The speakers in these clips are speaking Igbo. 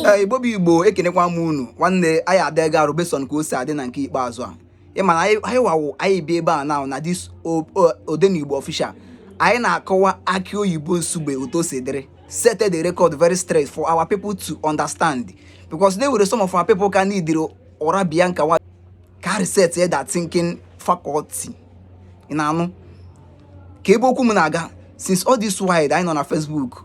ee igbo bụ igbo ekenekwa m unu nwanne anyị adịga arụ based on ka o si adị na nke ikpeazụ a ị ma na anyị anyị wawụ anyị bi ebe a na na this o- o- odenigbo official anyị na-akọwa akị oyibo nsugbe otu o si dịrị set the record very straight for our people to understand because they were some of our people ka need ụra Bianca nwa ka reset ya that thinking faculty ị na-anụkwa ebe okwu m na-aga since all this while anyị nọ na facebook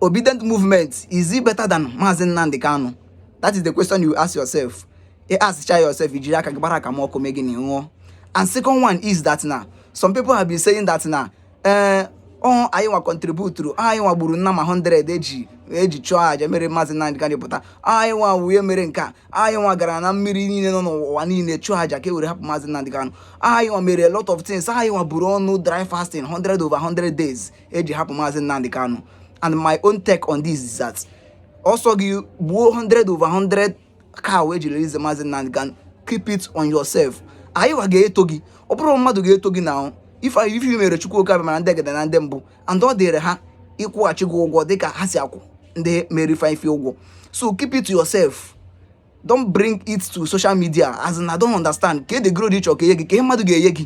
obedient movement is it better than Maazị Nnamdi Kanu that is the question you ask yourself ị askchaa yourself i jiri aka gị gbara aka ma ọkụ mee gị n'ihu and second one is that na some people have been saying that na ee eh, ọ anyị nwa contributuru anyị nwa gburu nama 100 eji eji chụọ aja mere Maazị Nnamdi Kanu pụta anyị nwa wee mere nke a anyị nwa gara na mmiri niile nọ n'ụwa niile chụọ aja ka e were hapụ Maazị Nnamdi Kanu anyị nwa mere a lot of things anyị nwa buru ọnụ dry fasting 100 over 100 days eji hapụ maazị Nnamdi Kanu and my own take on this is that ọ sọ gị gbuo 100 over 100 cow eji release maazị Nnamdi Kanu keep it on yourself anyị wa ga-eto gị ọ bụrọ mmadụ ga-eto gị na ahụ ife anyị ife ị mere chukwu oke abịama na ndị egede na ndị mbụ and ọ dịrị ha ịkwụghachi gị ụgwọ dịka ha si akwụ ndị mere ife ife ụgwọ so keep it to yourself don't bring it to social media as in I don't understand ka the glory ị chọrọ ka e nye gị ka ihe mmadụ ga-enye gị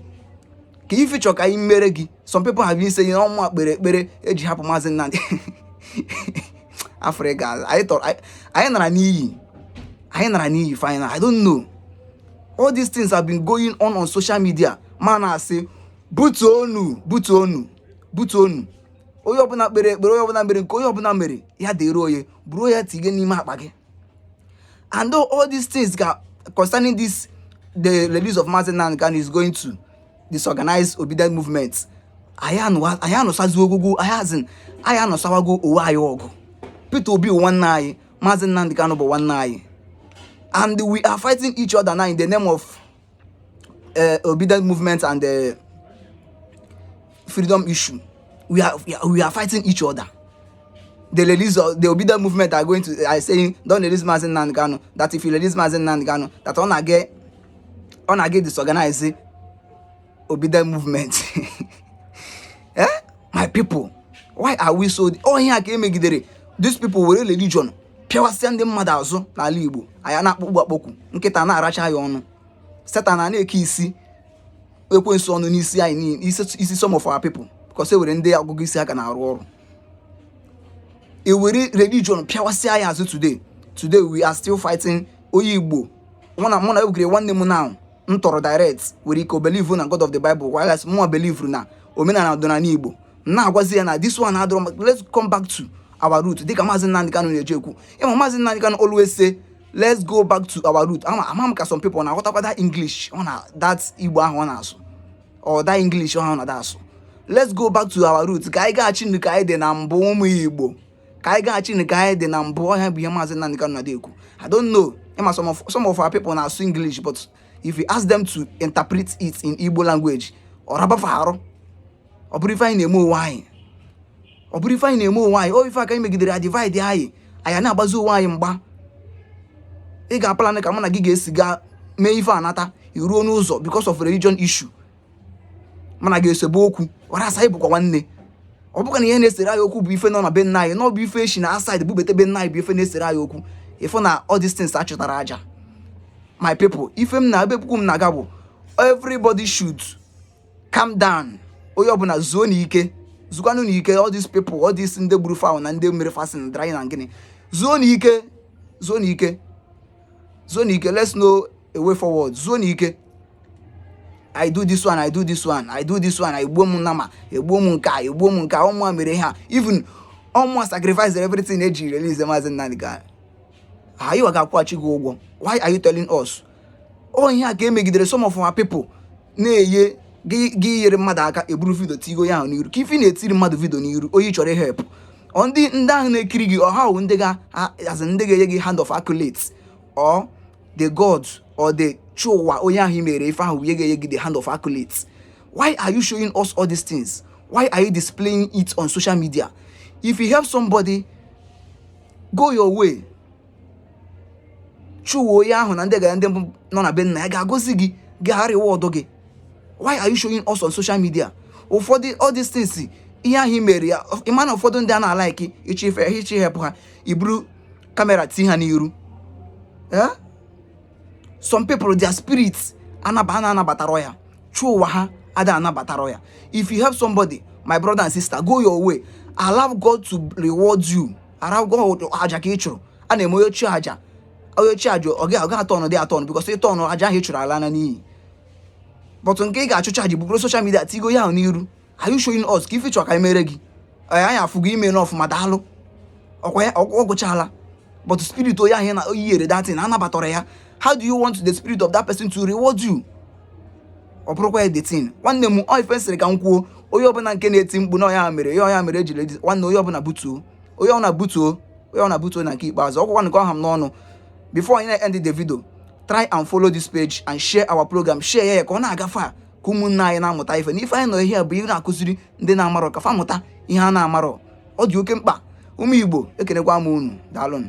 ka ife chọrọ ka anyị mere gị some people have been saying ọ mụnwa kpere ekpere eji hapụ maazị Nnamdi afrịka anyị tọrọ anyị nara n'iyi anyị nara n'iyi final I don't know all these things have been going on on social media m na-asị butuo onu butuo onu butuo onu onye ọbụla kpere ekpere onye ọbụla mere nke onye ọbụla mere ya dịrị onye buru ya tinye n'ime akpa gị and all these things ga concerning this the release of Mazi Nnamdi Kanu is going to disorganize obedient movement anyị anụsazi ọgụ anyị as in anyị anụsawago onwe anyị ọgụ Peter Obi nwanne anyị Mazi Nnamdi Kanu bụ nwanne anyị and we are fighting each other now in the name of uh, obedient movement and the uh, freedom issue we are, we are we are fighting each other the release of the obedient movement are going to are saying don't release Mazi Nnamdi Kanu that if you release Mazi Nnamdi Kanu that ọ na-aga ọ na-aga disorganize obedient movement eh my people why are we so ọ ihe a ka e megidere these people were religion pịawasịa ndị mmadụ azụ n'ala Igbo anya na-akpọgbu akpọkwu nkịta na-aracha ya ọnụ Satan a na-eke isi ekwensu ọnụ n'isi anyị isi some of our people because e nwere ndị agụgụ isi aka na-arụ ọrụ e were religion pịawasịa ya azụ today today we are still fighting onye Igbo mụ na mụ na egwugere nwanne m now m tọrọ direct nwere ike ọ believe na God of the Bible whereas mụnwa believe na omenala ọdịnala Igbo na-agwazi ya na this one adịrọ mma ka let's come back to our root dịka maazị Nnamdi Kanu na-eji ekwu ịma maazị Nnamdi Kanu always say let's go back to our root ama ama m ka some people na-aghọtakwa that English ọ na that Igbo ahụ ọ na-asụ or that English ọ na-adị asụ let's go back to our root ka anyị gaghachinụ ka anyị dị na mbụ ụmụ Igbo ka anyị gaghachinụ ka anyị dị na mbụ ọ ya bụ ihe maazị Nnamdi Kanu na-adị ekwu I don't know ịma some of some of our people na-asụ English but if you ask them to interpret it in Igbo language ọ raba fa arụ ọ bụrọ ife anyị na-eme onwe anyị ọ bụrọ ife anyị na-eme onwe anyị ọ ife a ka anyị megidere ya divide anyị anyị na-agbazi onwe anyị mgba ị ga-aplan ka mụ na gị ga-esi gaa mee ife anata iruo n'ụzọ because of religion issue mụ na gị esebe okwu whereas anyị bụkwa nwanne ọ bụkwa na ihe na-esere anyị okwu bụ ife nọ na be nna anyị na ọ bụ ife e shi na outside bubete be nna anyị bụ ife na-esere anyị okwu ife na all these things achụtara aja my people ife m na ebe okwu m na-aga bụ everybody should calm down onye ọbụla zuonụ ike zukwanụ ike all these people all these ndị gburu fowl na ndị mere fasting na drying na gịnị zuonụ ike zuonụ ike zuonụ ike let's know a way forward zuonụ ike I do this one I do this one I do this one egbuo m nama egbuo m nke a egbuo m nke a ọ mụwa mere ha even ọ mụwa sacrifice everything eji release maazị Nnamdi Kanu anyịwa ga-akwụghachi gị ụgwọ why are you telling us ọ ihe a ka e megidere some of our people na-eye gị yere mmadụ aka eburu video tigo ya ahụ n'iru kee ife na-etiri mmadụ video n'iru onye chọrọ help ndị ndị ahụ na-ekiri gị ọ ha wụ ndị ga-azị ndị ga-enye gị hand of accolades or the gods or the chi ụwa onye ahụ i mere ife ahụ wụ onye ga-enye gị the hand of accolades why are you showing us all these things why are you displaying it on social media if you help somebody go your way chi ụwa onye ahụ na ndị gara ndị mbụ nọ na be nna ya ga-agọzi gị ga-areward gị why are you showing us on social media ụfọdụ all these things ihe ahụ i mere ya ịma na ụfọdụ ndị a na-alike ịchọ ife ha ịchọ ịhelp ha iburu camera tii ha n'iru eh? some people their spirit anaba a na-anabatara ya chi ụwa ha ada anabatara ya if you help somebody my brother and sister go your way allow God to reward you allow God ọ aja ka ị chụrụ a na-eme onye chụọ aja onye chụọ aja ọ gaghị atụ ọnụ dị atụ ọnụ because ị tụọ ọnụ aja ahụ ị chụrụ alana n'iyi but nke ị ga-achụcha gị bugoro social media tigo ya ahụ n'iru are you showing us kee ife ị chọrọ ka anyị mere gị anyị afụgo i mena ọfụma daalụ ọkwa ya ọ gwụchala but spirit onye ahụ na onye i yere that thing anabatarọ ya how do you want the spirit of that person to reward you ọ bụrụkwa the thing nwanne m ọ ife sịrị ka m kwuo onye ọbụla nke na-eti mkpu na ọya mere ya ọya mere ejiri nwanne onye ọbụla butuo onye ọbụla butuo onye ọbụla butuo na nke ikpeazụ ọ bụkwa nke ọ ha m n'ọnụ before I end the video try and follow this page and share our program share ya ka ọ na-agafe ka ụmụnne anyị na-amụta ife na ife anyị nọ ihe a bụ ihe na-akụziri ndị na-amarọ ka fa mụta ihe a na-amarọ ọ dị oke mkpa ụmụ Igbo ekenekwa m unu daalụnụ